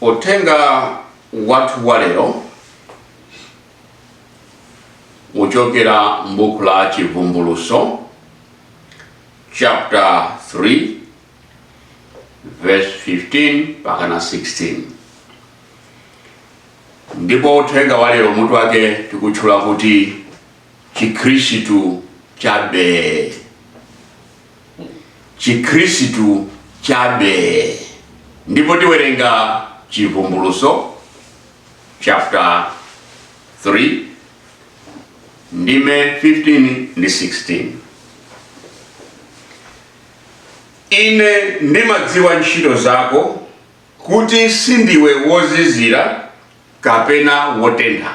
Uthenga wathu wa lero uchokera m'buku la Chivumbuluso chapter 3 verse 15 mpaka na 16 ndipo uthenga wa lero mutu wake tikutchula kuti chikhristu chabe chikhristu chabe ndipo tiwerenga chivumbuluso chapter 3 ndime 15 ndi 16 ine ndimadziwa ntchito zako kuti sindiwe wozizira kapena wotentha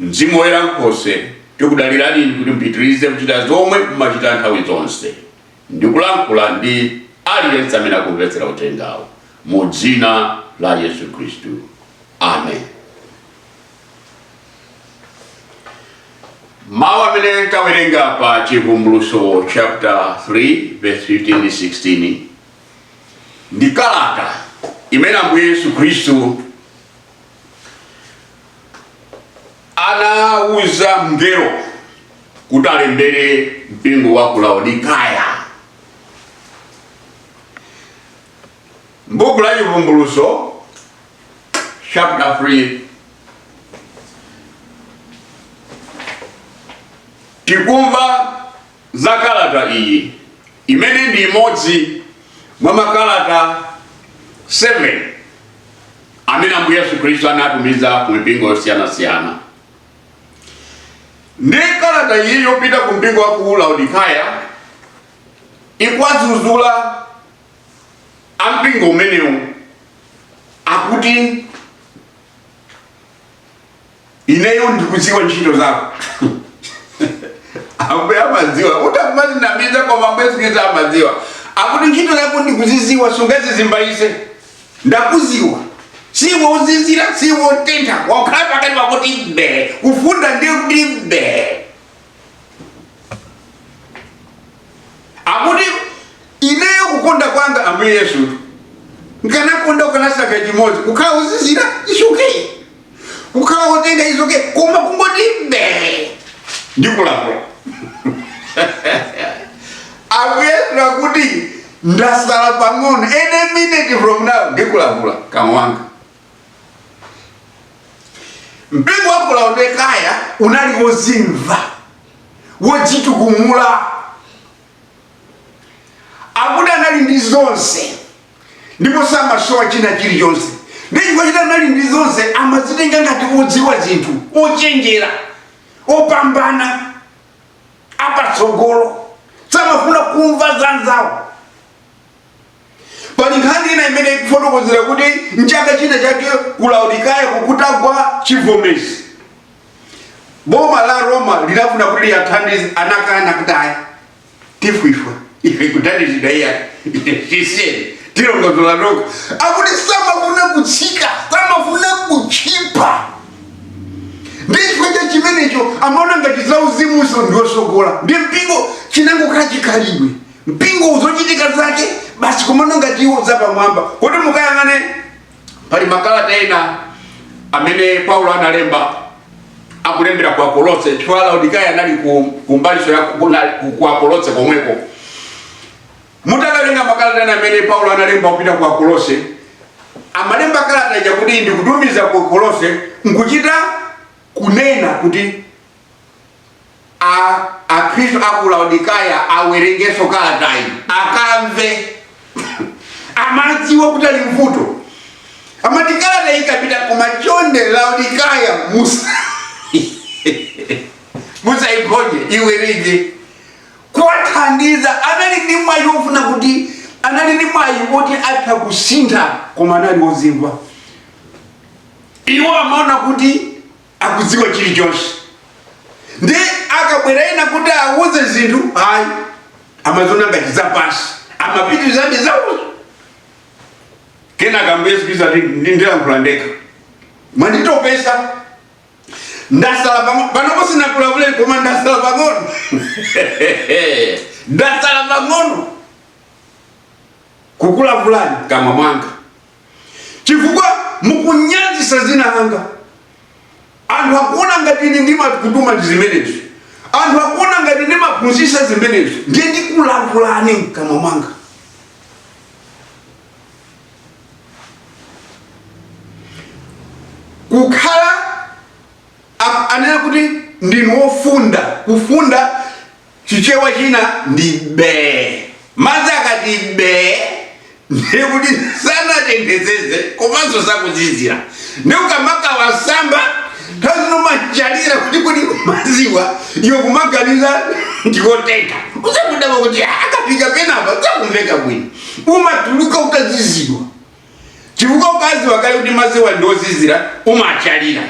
Mzimu Woyera Nkhoswe, tikudalirani Inu kuti mupitirize kuchita zomwe mumachita nthawi zonse ndi kulankhula ndi aliyense amene akumvetsera uthengawu. Mu dzina la Yesu Khristu. Amen. Mawu amene tawerenga pa Chivumbuluso chapter 3 verse 15 ndi 16 ndi kalata imene Ambuye Yesu Khristu anawuza mngelo kuti alembere mpingo wa ku Laodikaya. M'buku la Chivumbuluso chapter 3 tikumva za kalata iyi imene ndi imodzi mwa makalata 7 amene Ambuye Yesu Khristu anatumiza ku mipingo yosiyanasiyana. Ndi kalata iyi yopita ku mpingo wa ku Laodikaya ikuwadzudzula ampingo umenewu akuti ineyo ndikudziwa ntchito zako ambuye amadziwa utha kumadzinamiza koma ambuye Yesu Khristu amadziwa akuti ntchito zako ndikuzidziwa sungadzizimbayitse ndakudziwa siwe wozizira siwe wotentha wakhala pakati pongoti mbe kufunda ndiye kuti mbe akuti ineyo kukonda kwanga ambuye yesu nkanakonda ukanasankha chimodzi kukhala wozizira it's okay kukhala wotentha it's okay koma kungoti mbe ndikulavula ambuye yesu akuti ndasala pang'ono any minute from now ndikulavula mkamwa mwanga mpingo wa ku laodikaya unali wozimva wodzitukumula akuti anali ndi zonse ndipo samasowa china chilichonse ndi chifukwa choti anali ndi zonse amazitenga ngati odziwa zinthu ochenjera opambana apatsogolo samafuna kumva za nzawo pali nkhani ina imene ikufotokozera kuti mchaka china chake ku laodikaya kutagwa chivomezi boma la roma linafuna kuti liwathandize anakana kuti ayi sitifuna ife kuthandizidwa iyayi tisiyeni tilongosola tokha akuti samafuna kutsika samafuna kutchipa ndi chifukwa cha chimenecho amaona ngati zauzimunso ndi wotsogola ndi mpingo chinangokhala chikhalidwe mpingo muzochitika zake basi kumaona ngati iwo zapamwamba kuti mukayang'ane pali makalata ena amene paulo analemba akulembera ku akolose chifukwa laodikaya anali ku- kumbalinso ya ku- na- ku- ku akolose komweko mutakawerenga makalata ena amene paulo analemba kupita ku akolose amalemba kalata ija kuti ndikutumiza ku akolose nkuchita kunena kuti a Akhristu a ku Laodikaya awerengenso kalatayi, akamve. Amadziwa kuti ali m'vuto. Amati kalatayi ikapita koma chonde Laodikaya musaiphonye iwerenge kuwathandiza anali ndi mwayi wofuna kuti anali ndi mwayi woti atha kusintha koma anali wozimva iwo amaona kuti akudziwa chilichonse ndi akabwera ena kuti awauze zinthu ayi amaziona ngati zapansi amapitirizabe zawozo kenaka ambuye yesu khristu ati ndi- ndilankhula ndekha mwanditopesa ndasala pang'ono panopo sinakulavuleni koma ndasala pang'ono ndasala pang'ono kukulavulani mkamwa mwanga chifukwa mukunyazisa zina langa anthu akuona ngati ine ndimakutumani zimenezo anthu akuona ngati ndimaphunzisa zimenezo ndiye ndikulavulani mkamwa mwanga kukhala a- anena kuti ndinu wofunda kufunda Chichewa china ndi bee. Madzi akati bee ndiye kuti sanatenthetsetse komanso sakuzizira. Ndiye ukamakawasamba nthawi zina umachalira kuti kodi madziwa iwe kumaganiza ndi otentha. Udzangodabwa kuti akafika penapa sakumveka bwino. Umatuluka utazizidwa. chifukwa ukaziwa kale kuti maziwa ndi ozizira umachalira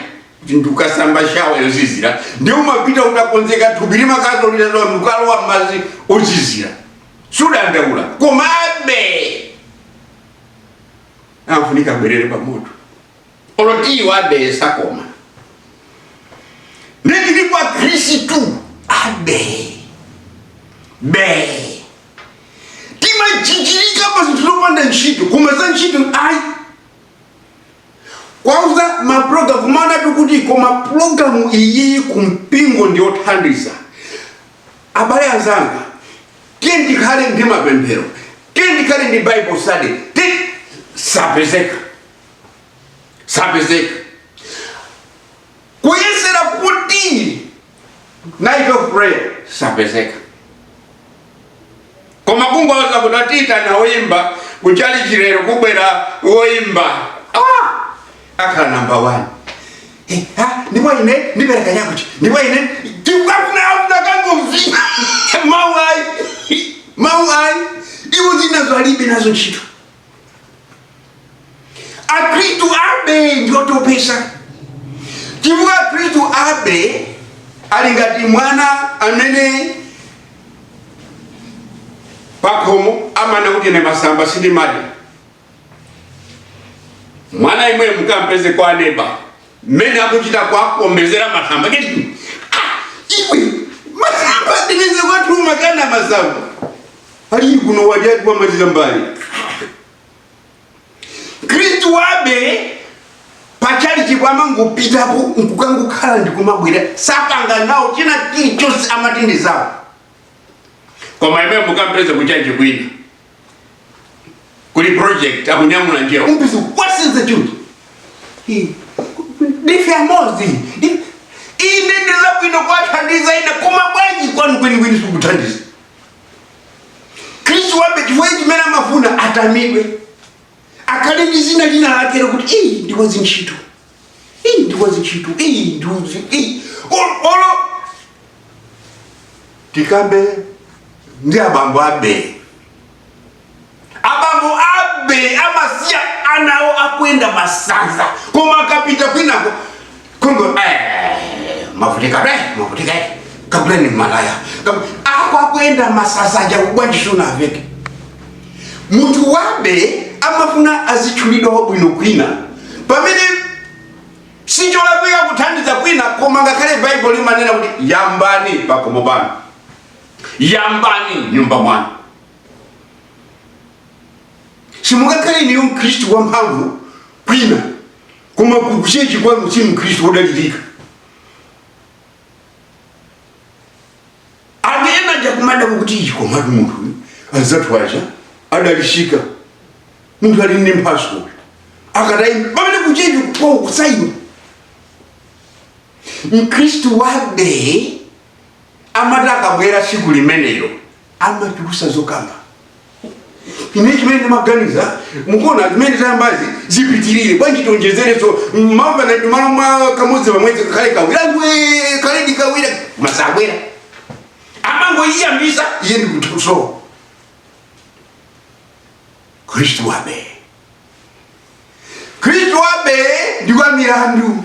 ndikukasamba shawa yozizira ndiye umapita utakonzeka thupi limakazoliralo ndikukalowa mmazi ozizira sudandaula koma abe amafunika abwerere pamoto olo tiyi wabe sakoma ndikilipo akhristu abe be timajijirika pa zinthu zopanda ntchito koma za ntchito ayi kwauza maprogramu kumanenatu kuti koma programu iyiyi ku mpingo ndi yothandiza abale anzanga tiyeni tikhale ndi mapemphero tiyeni tikhale ndi bible study sapezeka sapezeka kuyesera kuti night of prayer sapezeka koma kungowauza kuti taitana woyimba kuchalichi lero kubwera woyimba ah! akhala namba 1 Eh, ah, ndipo ine ndipereka chakuti ndipo ine ndikufuna kukangovina mau ayi mau ayi iwo zinazo alibe nazo ntchito akristu abe ndiotopesa chifukwa akristu abe ali ngati mwana amene pakhomo amanena kuti ine masamba sindimadya mwana yemweyo mukampeze kwa neba mmene akuchita kwakombezera masamba kuti "Ah, iwe masamba ndipeze kwathu umakana masamba aliyi kuno wadya ati wamaliza mbale kristu wabe pachalichi kwawo amangopitapo nkukangokhala ndikumabwera sapanga nawo china chilichonse amati ndi zawo koma yemweyo mukampeze kuchachi kwina kuli project akunyamula njerwa kumfunsa what is the truth ndife amozi ine ndi zabwino kwathandiza ena koma bwanji kwanu kwenikweni sukuthandiza khristu wabe chifukwa chimene amafuna atamidwe akhale ndi zina lina lake lokuti iyi ndi wazintchito iyi ndi wazintchito iyi ndiuzi iyi O- olo tikambe ndi abambo abe abambo abe amasiya ana awo akuyenda masanza koma akapita kwinako kungo eh, mavutika be mavutika eh, kaguleni malaya Kagu- ako akuyenda masanza aja bwanji sunawaveke munthu wabe amafuna azitchulidwa wabwino kwina pamene sicholakwika kuthandiza kwina koma ngakhale baibulo limanena kuti yambani pakhomo panu yambani mnyumba mwanu simungakhale iweyo mkhristu wamphamvu kwina koma kuchechi kwanu si mkhristu wodalirika anthu ena aja akumadabwa kuti ii komatu munthu uyu anzathu aja adalitsika munthu ali ndi mphatso akadayima pamene kuchechi kwawo kusayima mkhristu wamba amati akabwera tsiku limenelo amatulutsa zokamba ine chimene ndimaganiza mukuona zimene zayambazi zipitirire bwanji tionjezerenso mwamva nati malo mwa kamodzi pamwezi kakhale kawiri ikhale ndi kawiri samabwera amangoyiyambisa iye ndikutusowa mkhristu wamba mkhristu wamba ndi wa milandu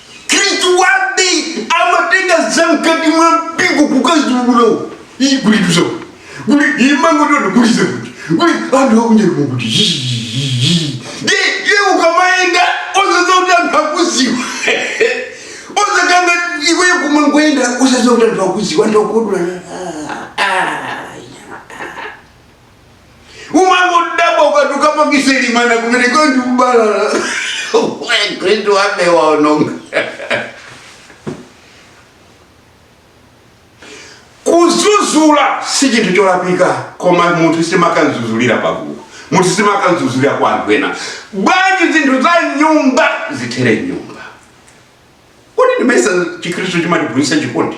Mkhristu wamba amatenga zamkati mwa mpingo kukaziulula iyi kulituza kuli imangototo kulize kuti kuli anthu akunyera kuti ye ye ukamayenda osadziwa kuti anthu akudziwa za kanga iwe kumangoyenda osadziwa kuti anthu akudziwa anthu akodula umangodabwa ukati ukapangise chimvano kumene anthu kubalalika mkhristu wamba waononga kudzudzula si chinthu cholakwika koma munthu sumakamudzudzulira pagulu munthu sumakamudzudzulira kwa anthu ena bwanji zinthu za m'nyumba zithere m'nyumba kodi ndimayesa chikristu chimatiphunzitsa chikondi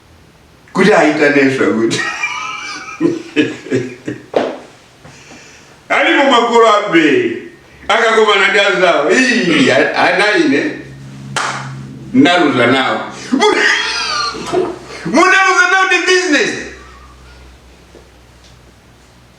kuti ayitanenso kuti alipo makolo ambiri akakomana ndi anzawo ana ine ndaluza nawo munaluza nawo ndi business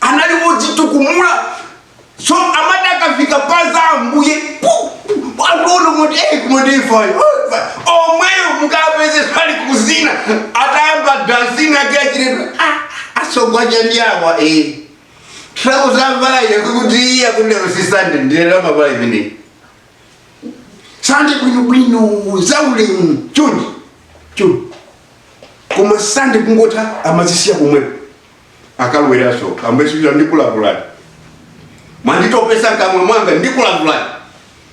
anali wodzitukumula so amati akafika pa za ambuye pu- pu- akuona kuti "Eh, koma ndifayo omweyo mukapeze pali kuzina atayamba dansini ake achiredwa asogwacha ndi awa eh. trakuzamvala iyo kuti iya kundero si Sande ndilera mavalo imeneyi sande bwinobwino zaulemu chonde chonde koma sande kungotha amazisiya kumwepo akalowanso ambuye akuti ndikulavulani mwanditopetsa mkamwa mwanga ndikulavulani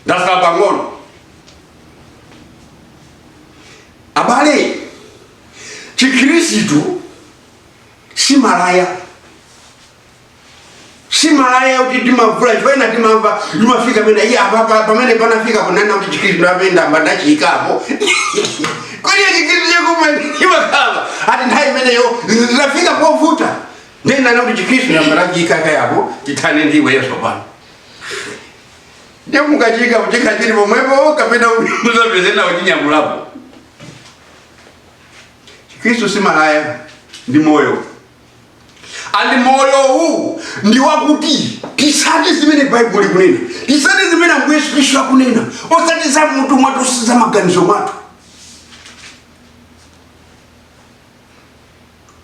ndatsala pang'ono abale chikhristu si malaya Si malaya yoti timavula chifukwa ena timamva limafika pena iye apapa pamene panafika kunena kuti chikristu apa ndiyambe ndachiyikapo kodi chikristu chekuma imakhala ati nthawi imeneyo zafika povuta ndinana kuti chikristu ndiyambe ndachiyika kaye apo tithane ndi iweyo tsopano ndiye mukachiyika kuchikha chili pomwepo kapena muzapeza ena achinyamulapo chikristu si malaya ndi moyo and moyowu ndi wakuti tisate zimene baibulo likunena tisate zimene ambuye yesu khristu akunena osati za m'mutu mwathu si za maganizo mwathu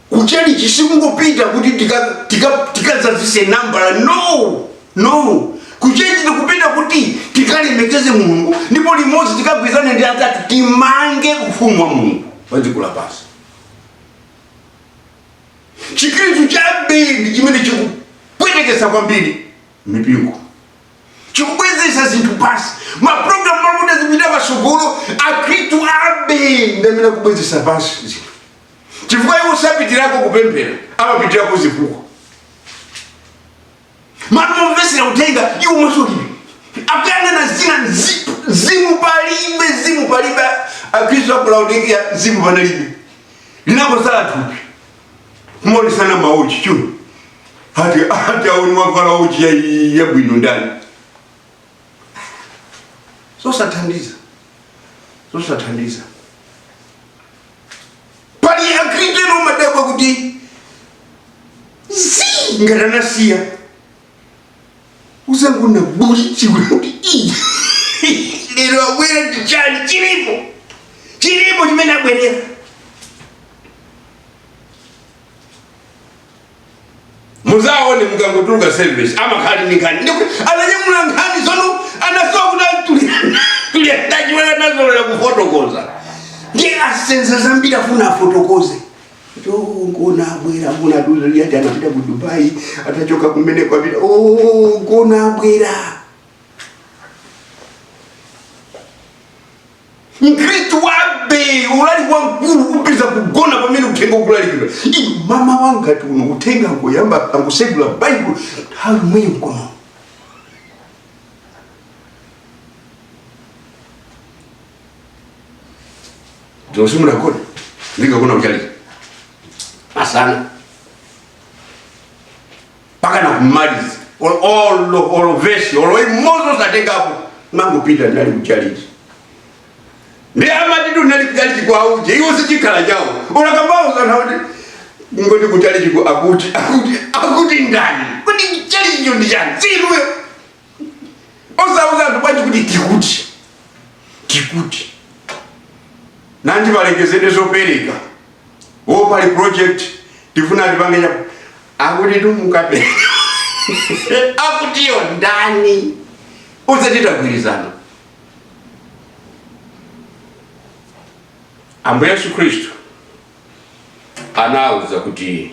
kuchalichi sikungopita kuti tikadzazise tika, tika tikadzazise nambala no no kuchalichi tikupita kuti tikalemekeze mulungu ndipo limodzi tikagwirizane ndi anzathu timange ufumu wa mulungu padziko lapansi chikristu cha B ndi chimene chikupwetekesa kwambiri mipingo chikubwezesa zinthu pansi maprogramu makuda zipita patsogolo akristu a B ndi amene akubwezesa pansi zinthu chifukwa iwo sapitirako kupemphera amapitirako zifukwa m'malo momvesera uthenga iwo mwenso ulibe akuyang'ana zina zi- mzimu palibe mzimu palibe akristu aku laodikia mzimu panalibe linangosala thupi kumaonesana mawochi chuno ati ati aone wavala wochi ya- yabwino ndani zosathandiza zosathandiza pali akristu ena umadabwa kuti zii ngati anasiya uzangoona bulichiwe kuti ii lero abwera ndi chani chilipo chilipo chimene abwerera muzaone mukangotuluka service amakhala ndi nkhani ndipo ananyamula nkhani zomwe anasowa kuti tuliandachiwera nazolera kufotokoza ndi asenza zambiri afuna afotokoze kuti "Oh, ngona abwera ngona dzulo ati anapita ku dubai atachoka kumene kwapita "Oh, ngona abwera mkhristu wa B ulali wamkulu kupeza kugona pamene uthenga ukulalikidwa inu mama wanga tulo uthenga angoyamba angosegula baibulo nthawi yomweyo mkonono dzulo simunagone ndikagona kuchalichi masana pakana kumaliza olo olo olo vesi olo imodzi osatengapo mangopita ndinali kuchalichi ndi amati ndinali kuchalichi kwa uje iwo sichikhala chawo olakambao sana kuti ngoti kuchalichi ku akuti akuti akuti ndani kuti chalichicho ndi chani si inuyo osauza anthu bwanji kuti tikuti tikuti nanji palengezedwe zopereka o pali project tifuna tipange chaku akuti timukape akutiyo ndani uzati tagwirizana ambuye yesu khristu anauza kuti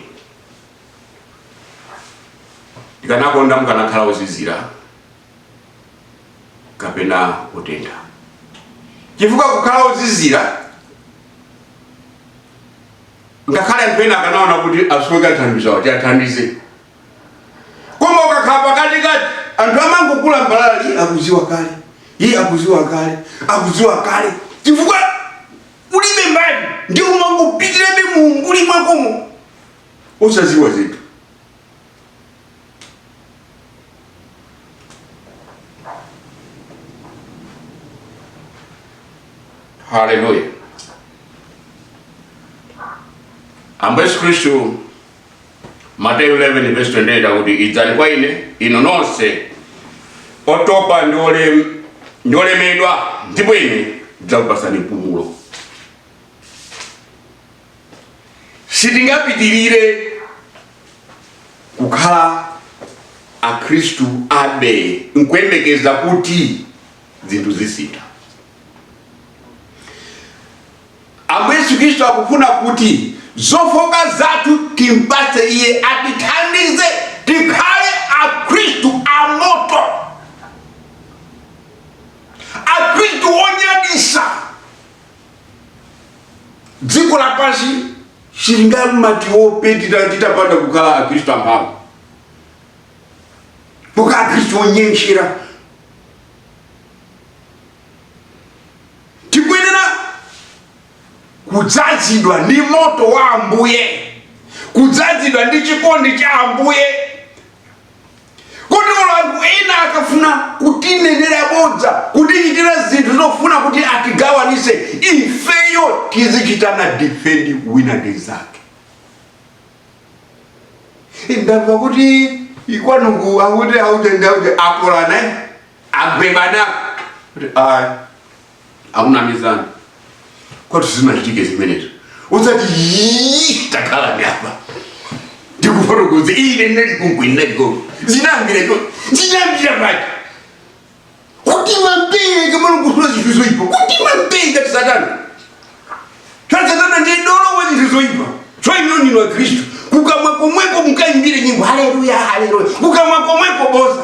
ndikanakonda mukanakhala ozizira kapena kutentha chifukwa kukhala ozizira ngakhale anthu ena akanaona kuti asoweka thandizo kuti athandize koma ukakhala pakatikati anthu amangokulambalala iyi akuziwa kale iyi akuziwa kale akuziwa kale chifukwa ulibe mbali ndi umangopitirirabe muumbuli mwakomo osaziwa zinthu haleluya ambuye yesu khristu mateyu 11 verse 28 akuti idzani kwa ine inu nonse otopa ndi olem- ndi olemedwa ndipo ine ndidzakupatsani mpumulo sitingapitirire kukhala akhristu a bee nkuyembekeza kuti zinthu zisintha ambuye yesu khristu akufuna kuti zofooka zathu timpatse iye atithandize tikhale akhristu amoto akhristu onyadisa dziko lapansi silingamatiwope titapanda kukhala akristu amphamvu pokhala akristu onyentchera tikuyenera kudzazidwa ndi moto wa ambuye kudzazidwa ndi chikondi cha ambuye kotero anthu ena akafuna kutinenera bodza kutichitira zinthu zofuna kuti atigawanise ifeyo tizichitana defend wina ndi mzake ndamva kuti kwanuku akuti auje ndi auje akolana agwebana kuti ayi akunamizani kuti zisanachitike zimenezo uzati "Yii, takhala apa ndikufotokoze ine ndinali komweko ndinaliko zinambireko zinambira pati kuti mambiri kamano kufuna zinthu zoyipa kuti mambiri ngati satana Choncho satana ndiye dolo wa zinthu zoyipa tsono inu wa khristu kukamwa komweko mukayimbire nyimbo haleluya haleluya kukamwa komweko boza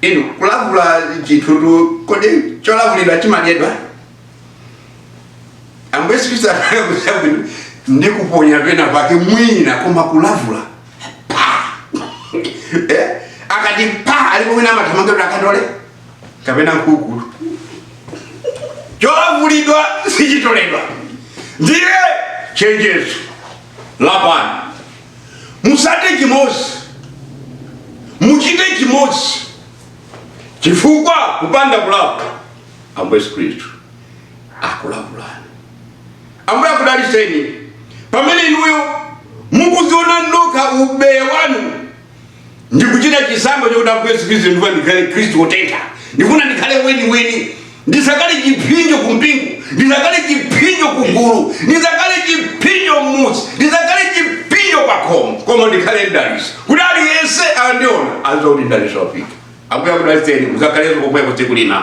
inu kulavula chinthutu kodi cholavulidwa chimadyedwa ambuye yesu khristu anakuuza bwino ndi kuponya pena pake mwina koma kulavula pa eh? akati pa alipo mwina amathamanga kuti akatole kapena mkulu cholavulidwa sichitoledwa ndiye chenjezo lapani musate chimozi muchite chimozi chifukwa kupanda kulapa ambuye yesu khristu akulavulani ambuye akudaliseni pamene inuyo mukuziona nokha ubeya wanu ndikuchita chisankho chakuti ambuye yesu khristu ndifuna ndikhale mkhristu wotentha ndifuna ndikhale weniweni ndisakhale chipsinjo ku mpingo ndisakhale chipsinjo ku gulu ndisakhale chipsinjo m'muzi ndisakhale chipsinjo pa khomo koma ndikhale mdaliso kuti aliyense akandiona aziwe kuti mdaliso wafika ambuye akudaliseni muzakhalenso komweko tsiku lina